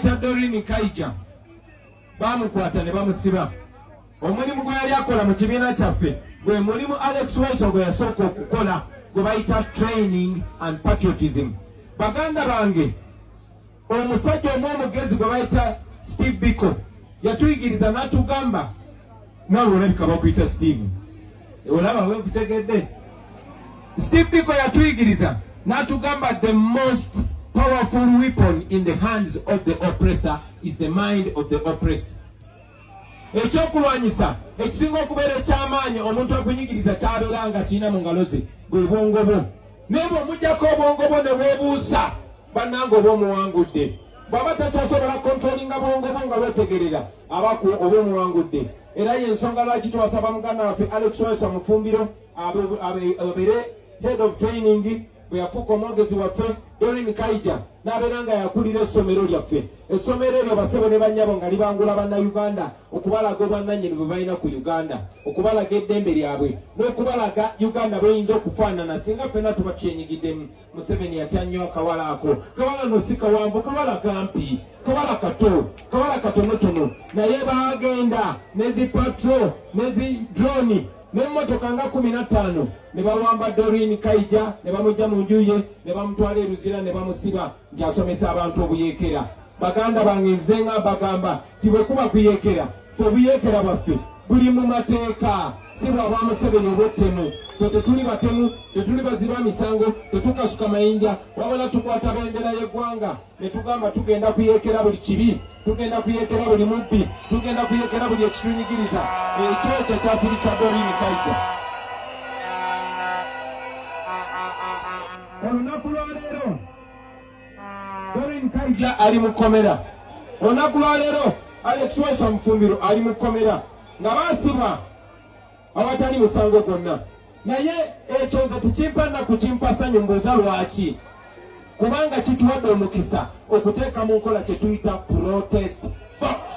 Dokita Doreen Kaija baamukwata ne bamusiba. Omulimu gwe yali akola mu kibiina kyaffe gwe mulimu Alex Weso gwe yasooka okukola gwe bayita training and patriotism. Baganda bange omusajja omu omugezi gwe bayita Steve Biko yatuyigiriza n'atugamba nawe olabika bakuyita steve olaba wekutegedde steve biko yatuyigiriza natugamba the most powerful weapon in the hands of the oppressor is the mind of the oppressed ekyokulwanyisa ekisinga okubeera ekyamaanyi omuntu okunyigiriza kyabeera nga kirina mu ngalo ze bwe bwongo bwo naye bwe omujjako obwongo bwo ne bwebuusa bannanga oba omuwangudde bw'aba takyasobola kontrolinga bwongo bwo nga bwetegerera abaku oba omuwangudde era ye ensonga lwaki twasaba muganda waffe alex wesa mufumbiro abeere head of training bwe yafuuka omwogezi waffe dorin kaija n'abeera nga yakulira essomero lyaffe essomero eryo basebo ne bannyabo nga libangula bannayuganda okubalaga obwannannyini bwe balina ku uganda okubalaga eddembe lyabwe n'okubalaga uganda bweyinza okufaanana singa ffenna tuba tyenyigiddemu Museveni yatya nnyo akawala ako. Kawala no si kawanvu, kawala kampi, kawala kato, kawala katonotono, naye baagenda nezi patro nezi droni n'emmotoka nga kumi na ttaano ne bawamba Doreen Kaija ne bamujja mu nju ye ne bamutwala e Luzira ne bamusiba nti asomesa abantu obuyeekera. Baganda bange nze nga mbagamba nti bwe kuba kuyeekera ffe obuyeekera bwaffe buli mu mateeka si bwa bwa Museveni obw'ettemu ffe tetuli batemu tetuli baziba misango tetukasuka mayinja wabula tukwata bendera y'eggwanga ne tugamba tugenda kuyeekera buli kibi tugenda kuyeekera buli mubbi tugenda kuyeekera buli ekitunyigiriza ekyo ekyo kyasirisa Doreen Kaija olunaku lwaleero Doreen Kaija ali mu kkomera. Olunaku lwa leero Alex Waiswa Mufumbiro ali mu kkomera nga baasibwa awatali musango gwonna. Naye ekyo nze tekimpa nnaku kimpa ssanyu mbuuza lwaki kubanga kituwadde omukisa okuteeka mu nkola kye tuyita protest vote.